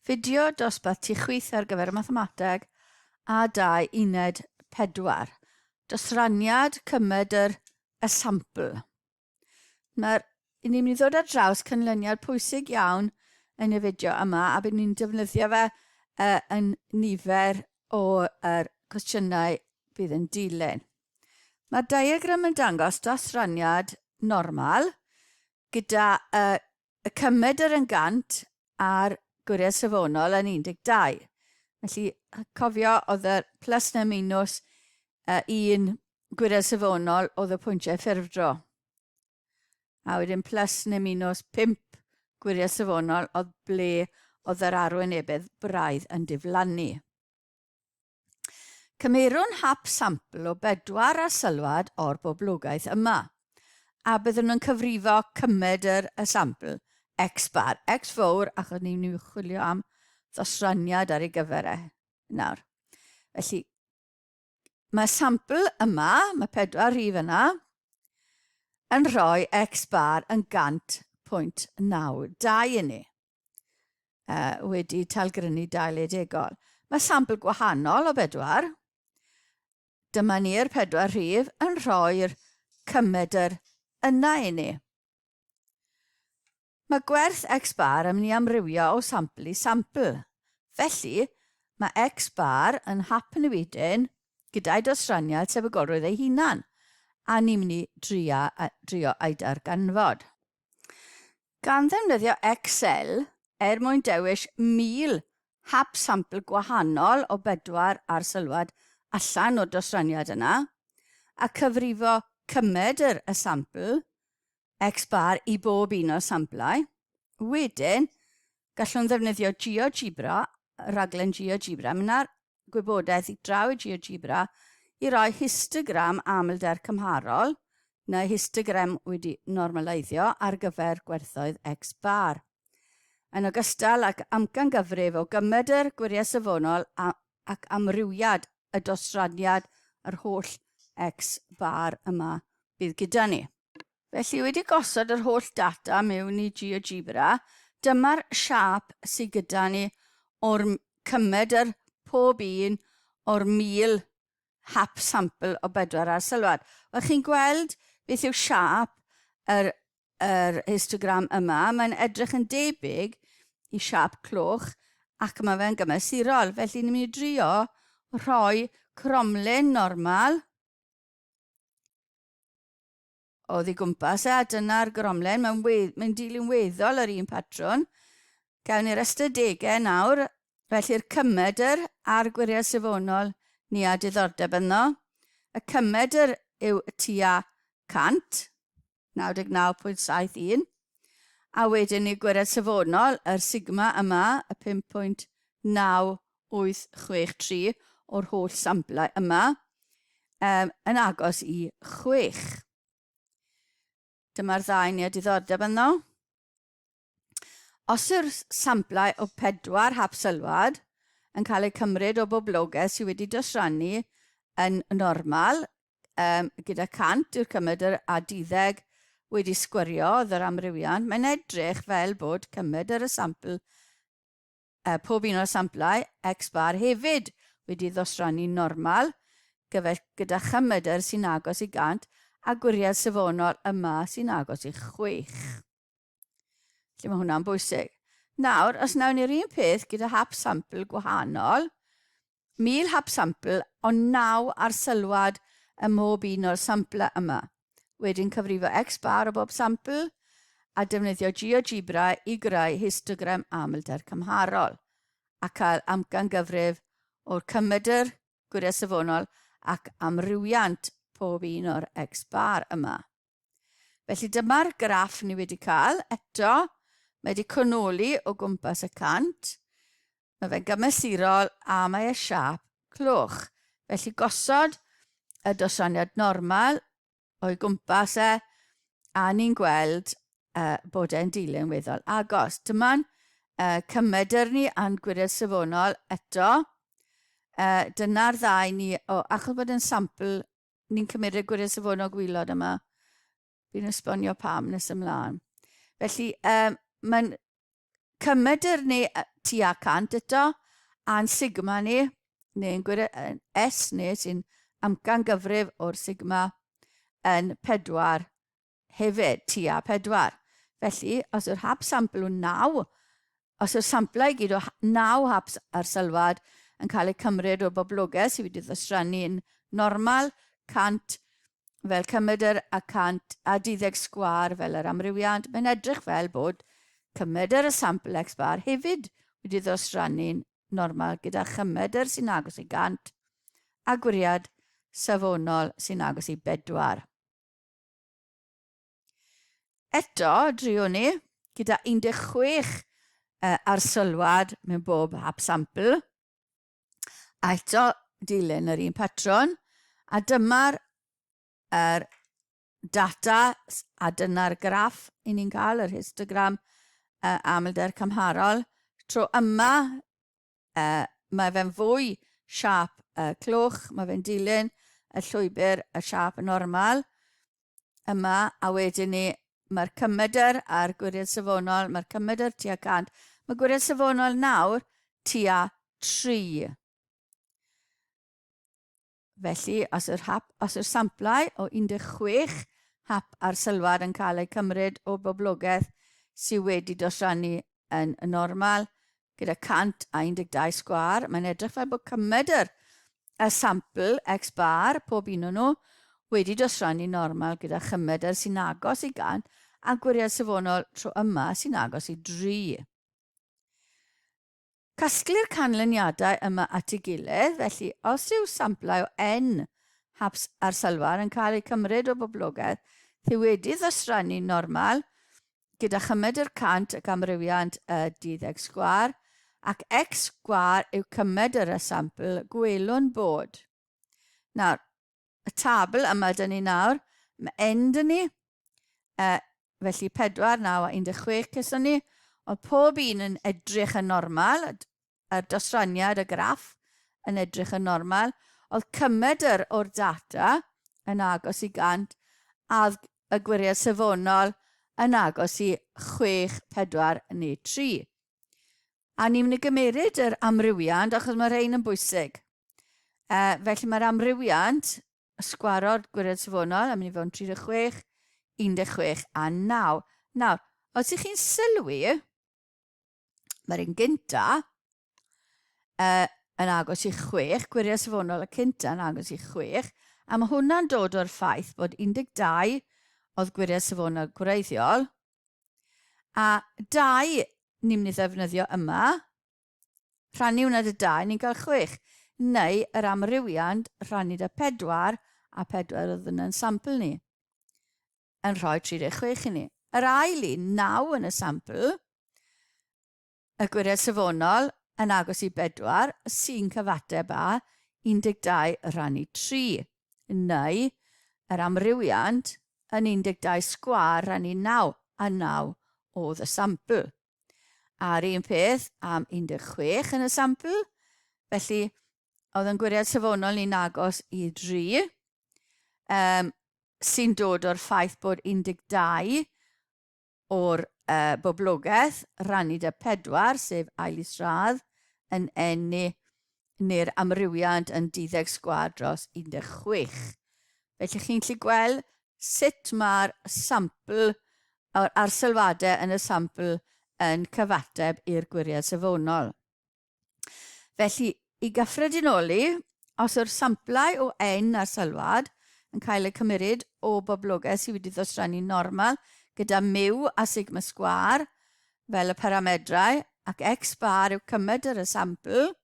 Fideo dosbarth tu chwith ar gyfer y mathemateg a dau uned pedwar. Dosraniad cymed yr esiampl. Mae'r i ni'n mynd i ddod ar draws canlyniad pwysig iawn yn y fideo yma a bydd ni'n defnyddio fe uh, yn nifer o'r er cwestiynau bydd yn dilyn. Mae'r diagram yn dangos dosraniad normal gyda uh, Y cymed yr yn gant a'r gwiriad safonol yn 12. Felly, cofio, oedd y plus neu'r minus uh, un gwiriad safonol oedd y pwyntiau ffurfdro. A wedyn plus neu minus 5 gwiriad safonol oedd ble oedd yr arwynebedd braidd yn diflannu. Cymerwn hap sampl o bedwar a sylwad o'r boblogaeth yma, a byddwn yn cyfrifo cymed yr y sampl, X bar, X fowr, achos ni'n mynd i chwilio am ddosraniad ar ei gyfer e nawr. Felly, mae sampl yma, mae pedwar rhif yna, yn rhoi X bar yn 100.92 i ni. uh, wedi talgrynu 20 Mae sampl gwahanol o bedwar. Dyma ni'r pedwar rhif yn rhoi'r cymedr yna i ni. Mae gwerth x bar yn mynd i amrywio o sampl i sampl. Felly, mae x bar yn hap yn y wedyn gyda'i dosraniad tebygolrwydd ei hunan, a ni'n mynd i drio, drio ei darganfod. Gan ddefnyddio Excel er mwyn dewis 1,000 hap sampl gwahanol o bedwar arsylwad allan o'r dosraniad yna, a cyfrifo cymedr y sampl, X bar i bob un o'r samplau. Wedyn, gallwn ddefnyddio GeoGebra, rhaglen GeoGebra, mynd ar gwybodaeth i draw i GeoGebra i roi histogram amlder cymharol, neu histogram wedi normaleiddio ar gyfer gwerthoedd X-bar, yn ogystal ag amcangyfrif o gymedr gwiriau safonol ac amrywiad y dosraniad yr holl X-bar yma bydd gyda ni. Felly, wedi gosod yr holl data mewn i GeoGebra, dyma'r siâp sydd gyda ni o'r cymed yr pob un o'r 1000 hap sampl o bedwar arsylwad. Wel, chi'n gweld beth yw siâp yr, yr histogram yma. Mae'n edrych yn debyg i siâp cloch ac mae fe'n gymesurol. Felly, ni'n mynd i drio rhoi cromlin normal Oddi gwmpas e, a dyna'r goromlen, mae'n we, mae'n dilyn weddol yr un patrwn. Gawn ni'r ystadegau nawr, felly'r cymedr a'r gwiriad safonol ni a diddordeb ynddo. Y cymedr yw y tua 100, 99.71, a wedyn ni gwiriad safonol, yr sigma yma, y 5.9 0.863 o'r holl samplau yma, um, yn agos i 6. Dyma'r ddau ni a diddordeb yno. Os yw'r samplau o pedwar hap sylwad yn cael eu cymryd o boblogaeth sydd wedi dosrannu yn normal, um, gyda 100 yw'r cymryd yr a diddeg wedi sgwriodd yr amrywiant, mae'n edrych fel bod cymryd yr y sampl Mae pob un o'r samplau X-bar hefyd wedi ddosrannu'n normal, gyfell gyda chymedr sy'n agos i 100 a gwiriad safonol yma sy'n agos i chwech. Felly mae hwnna'n bwysig. Nawr, os wnawn ni'r un peth gyda hap sampl gwahanol, 1000 hap sampl ond 9 arsylwad ym mhob un o'r samplau yma. Wedyn cyfrifo X-bar o bob sampl a defnyddio GeoGebra i greu histogram amlder cymharol a cael amcangyfrif o'r cymedr, gwyriad safonol ac amrywiant pob un o'r X-bar yma. Felly dyma'r graff ni wedi cael. Eto, mae wedi cwnoli o gwmpas y cant. Mae fe'n gymesurol a mae e siap clwch. Felly gosod y dosoniad normal o'i gwmpas e a ni'n gweld uh, bod e'n dilyn weddol agos. Dyma'n uh, cymedr ni a'n gwiriad safonol eto. Uh, Dyna'r ddau ni, o, achos bod yn sampl ni'n cymryd y gwiriau safonau gwylod yma. Fi'n esbonio pam nes ymlaen. Felly, um, mae'n cymedr ni tua cant eto, a'n sigma ni, neu'n gwiriau S ni sy'n amcan gyfrif o'r sigma yn pedwar hefyd, tua pedwar. Felly, os yw'r hap sampl yn naw, os yw'r samplau i gyd o naw hap arsyllwad yn cael eu cymryd o'r boblogaeth sydd wedi ddosrannu'n normal, 100 fel cymedr a 112 sgwâr fel yr amrywiad, mae'n edrych fel bod cymedr y sampl x bar hefyd wedi ddosrannu'n normal gyda chymedr sy'n agos i 100 a gwiriad safonol sy'n agos i bedwar. Eto, driwn ni, gyda 16 uh, arsylwad mewn bob hap sampl, a eto dilyn yr un patrwn, a dyma'r er, data, a dyna'r graff i ni'n cael, yr histogram uh, amlder cymharol. Tro yma, Yy, mae fe'n fwy siâp y clwch, mae fe'n dilyn y llwybr y siâp normal yma, a wedyn ni, mae'r cymedr a'r gwiriad safonol, mae'r cymedr tua 100, mae gwiriad safonol nawr tua 3. Felly, os yw'r hap, os yw'r samplau o 16 hap arsylwad yn cael eu cymryd o'r boblogaeth sydd wedi dosrannu yn normal, gyda 112 sgwâr, mae'n edrych fel bod cymedr y sampl X bar, pob un o'n nhw, wedi dosrannu normal gyda chymedr sy'n agos i 100 a gwiriad safonol tro yma sy'n agos i 3. Casglu'r canlyniadau yma at ei gilydd, felly os yw samplau o N, Haps a'r Sylfaen yn cael eu cymryd o boblogaeth sy wedi ddosrannu'n normal gyda chymed yr cant ac amrywiant y duddeg sgwâr, ac X sgwâr yw cymed yr esampl, gwelwn bod. Nawr, y tabl yma dyn ni nawr, mae N dyn ni, e, felly 4, 9 a 16 cyson ni, ond pob un yn edrych yn normal, yr dosraniad y graff yn edrych yn normal, oedd cymedr o'r data yn agos i 100 a y gwiriad safonol yn agos i 6, 4 neu 3. A ni'n mynd i gymeryd yr amrywiad achos mae rhain yn bwysig. Uh, felly mae'r amrywiant y sgwaro'r gwired safonol am ni fewn 36, 16 a 9. Nawr, os ych chi'n sylwi, mae'r un gynta uh, yn agos i 6, gwiriau safonol y cynta yn agos i 6, a mae hwnna'n dod o'r ffaith bod 12 oedd gwiriau safonol gwreiddiol, a 2 ni'n mynd i ddefnyddio yma, Rhannu hwnna dy dau, ni'n cael chwech. Neu yr amrywiant rhannu dy pedwar, a pedwar oedd yn sampl ni, yn rhoi 36 i ni. Yr ail un, 9 yn y sampl, y gwired safonol yn agos i bedwar sy'n cyfateb â 12 rhannu 3, neu yr amrywiant yn 12 sgwar rhannu 9, a 9 oedd y sampl. A'r un peth am 16 yn y sampl, felly oedd yn gwiriad safonol ni'n agos i 3, um, sy'n dod o'r ffaith bod 12 o'r uh, boblogaeth rannu da 4, sef ail is radd, yn enni neu'r amrywiad yn duddeg sgwâr dros 16. Felly chi'n gallu gweld sut mae'r sampl a'r arsylwadau yn y sampl yn cyfateb i'r gwiriad safonol. Felly, i gyffredinoli, os yw'r samplau o ein arsylwad yn cael eu cymeryd o boblogaeth sydd wedi ddosrannu normal gyda mu a sigma sgwâr, fel y paramedrau ac x bar yw cymed yr esampl,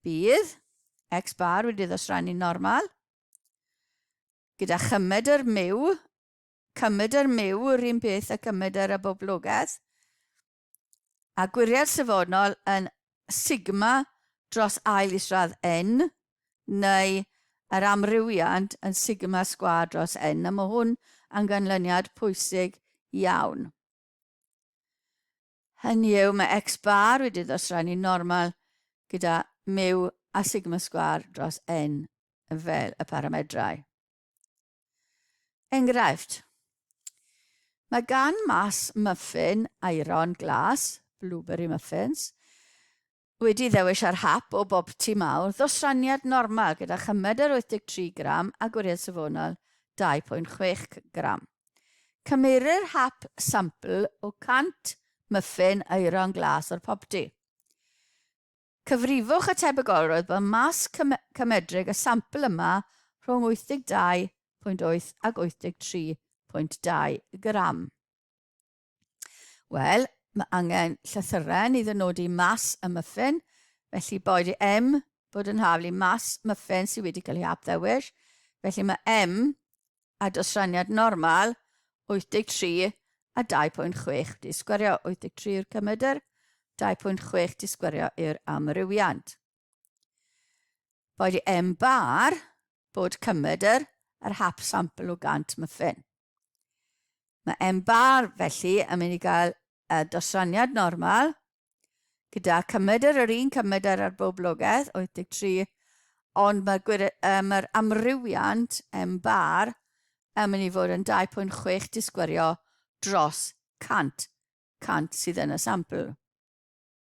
bydd x bar wedi ddosrannu'n normal gyda chymed yr myw, cymed yr myw yr un peth a cymed yr aboblogaeth, a gwiriad safonol yn sigma dros ail isradd n, neu yr amrywiant yn sigma sgwâr dros n, a mae hwn yn ganlyniad pwysig iawn. Hynny yw, mae X bar wedi ddosrannu normal gyda mu a sigma sgwar dros n fel y paramedrau. Enghraifft. Mae gan mas muffin aeron glas, blueberry muffins, Wedi ddewis ar hap o bob tŷ mawr, ddosraniad normal gyda chymed yr 83 gram a gwriad safonol 2.6 gram. Cymerir hap sampl o 100 myffin aeron glas o'r popty. Cyfrifwch y tebygolrwydd bod mas cymedrig y sampl yma rhwng 82.8 ac 83.2 gram. Wel, mae angen llythyren i ddynodi mas y muffin, felly boed i M bod yn haflu mas muffin sydd wedi cael ei hapddewis, felly mae M a dosraniad normal 83 a 2.6 di sgwerio 83 yw'r cymedr, 2.6 di sgwerio i'r amrywiant. Boed i M bar bod cymedr yr hap sampl o gant muffin. Mae M-Bar, felly, yn mynd i gael y dosraniad normal, gyda cymedr yr un cymedr ar boblogaeth, 83, ond mae'r uh, mae amrywiant M-Bar yn mynd i fod yn 2.6 disgwyrio dros 100, 100 sydd yn y sampl.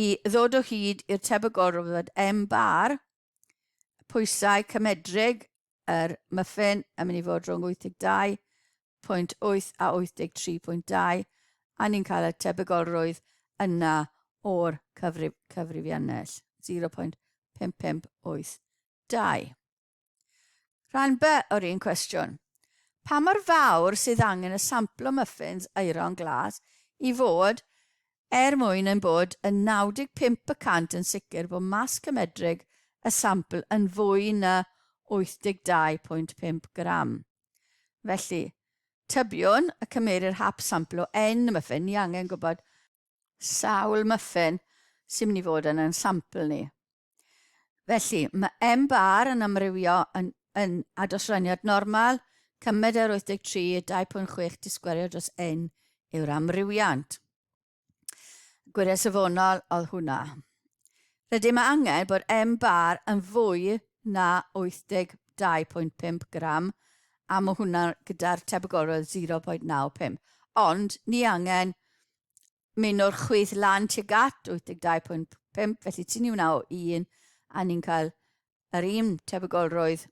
i ddod o hyd i'r tebygol o fod M bar pwysau cymedrig yr muffin yn mynd i fod rhwng 82.8 a 83.2 a ni'n cael y tebygolrwydd yna o'r cyfrif, cyfrifiannell 0.5582. Rhan B o'r un cwestiwn. Pa mor fawr sydd angen y samplo muffins aeron glas i fod er mwyn ein bod yn 95 y cant yn sicr bod mas cymedrig y sampl yn fwy na 82.5 gram? Felly, tybiwn y cymerir hap samplo N y muffin, ni angen gwybod sawl muffin sy'n mynd i fod yn ein sampl ni. Felly, mae M bar yn amrywio yn, yn adosraniad normal, cymed ar 83, 2.6 disgwerio dros N yw'r amrywiant. Gwiriau safonol oedd hwnna. Rydym angen bod M bar yn fwy na 82.5 gram a mae hwnna gyda'r tebygolrwydd 0.95. Ond ni angen mynd o'r chwith lan tuag at 82.5, felly ti'n ni wnaw un, a ni'n cael yr un tebygolrwydd,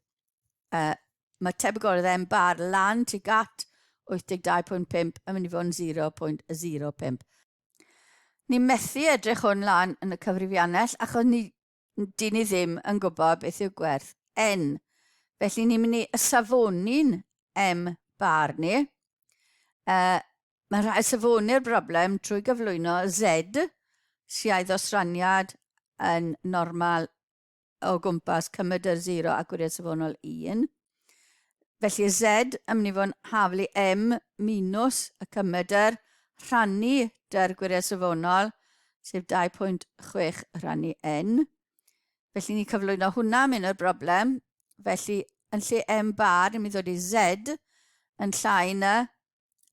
uh, mae tebygolrwydd M bar lan tuag at 82.5 yn mynd i fod yn 0.05. Ni methu edrych hwn lan yn y cyfrifiannell achos ni Dyn ni ddim yn gwybod beth yw gwerth N. Felly ni'n mynd i safoni'n M bar ni. Uh, mae'n rhaid safoni'r broblem trwy gyflwyno Z, siaidd o straniad yn normal o gwmpas cymryd yr 0 a gwiriad safonol 1. Felly y Z yn mynd i fod yn haflu M minus y cymedr rhannu dy'r gwiriad safonol, sef 2.6 rhannu N. Felly ni'n cyflwyno hwnna mewn i'r broblem. Felly yn lle M bar, ni'n mynd i ddod i Z yn llai na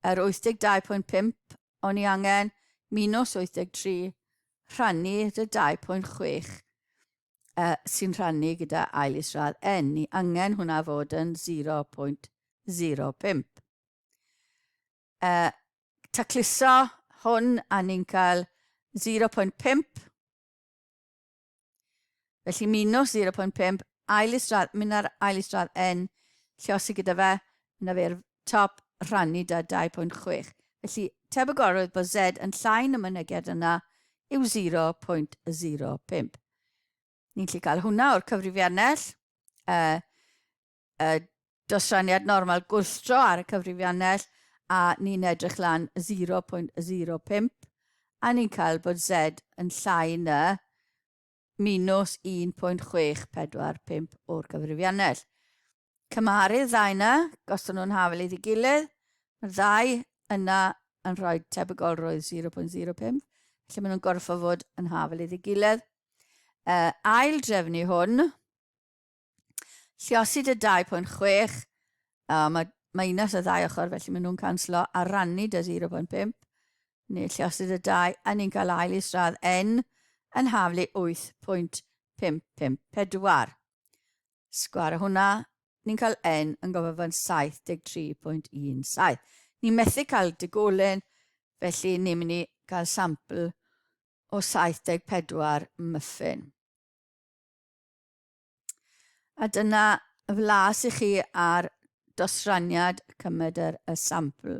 yr 82.5 o'n i angen minus 83 rhannu dy 2.6 uh, sy'n rhannu gyda ail isradd n, ni angen hwnna fod yn 0.05. Uh, tacluso hwn a ni'n cael 0.5. Felly minus 0.5, ail isradd, mynd ar ail isradd n, lle os i gyda fe, yna fe'r top rhannu da 2.6 felly tebygolrwydd bod Z yn llai na myneged yna yw 0.05. Ni'n lli cael hwnna o'r cyfrifiannell, y, y dosraniad normal gwylltro ar y cyfrifiannell a ni'n edrych lan 0.05 a ni'n cael bod Z yn llai na minws 1.645 o'r gyfrifiannell. Cymharu'r ddau yna, gosod nhw'n hafel iddi gilydd, mae'r ddau yna yn rhoi tebygolrwydd 0.05, felly maen nhw'n gorfod fod yn hafel iddi gilydd. Uh, ail drefnu hwn, Lluosi dy 2.6. O, mae minus y ddau ochr, felly maen nhw'n canslo a rannu dy 0.5. Neu lluosi dy 2, a ni'n cael ail i sradd n yn haflu 8.554. Sgwar o hwnna, ni'n cael n yn gofod fan 73.17. Ni'n methu cael digolen, felly ni'n mynd i gael sampl o 74 muffin. A dyna flas i chi ar dosraniad cymedyr y sampl.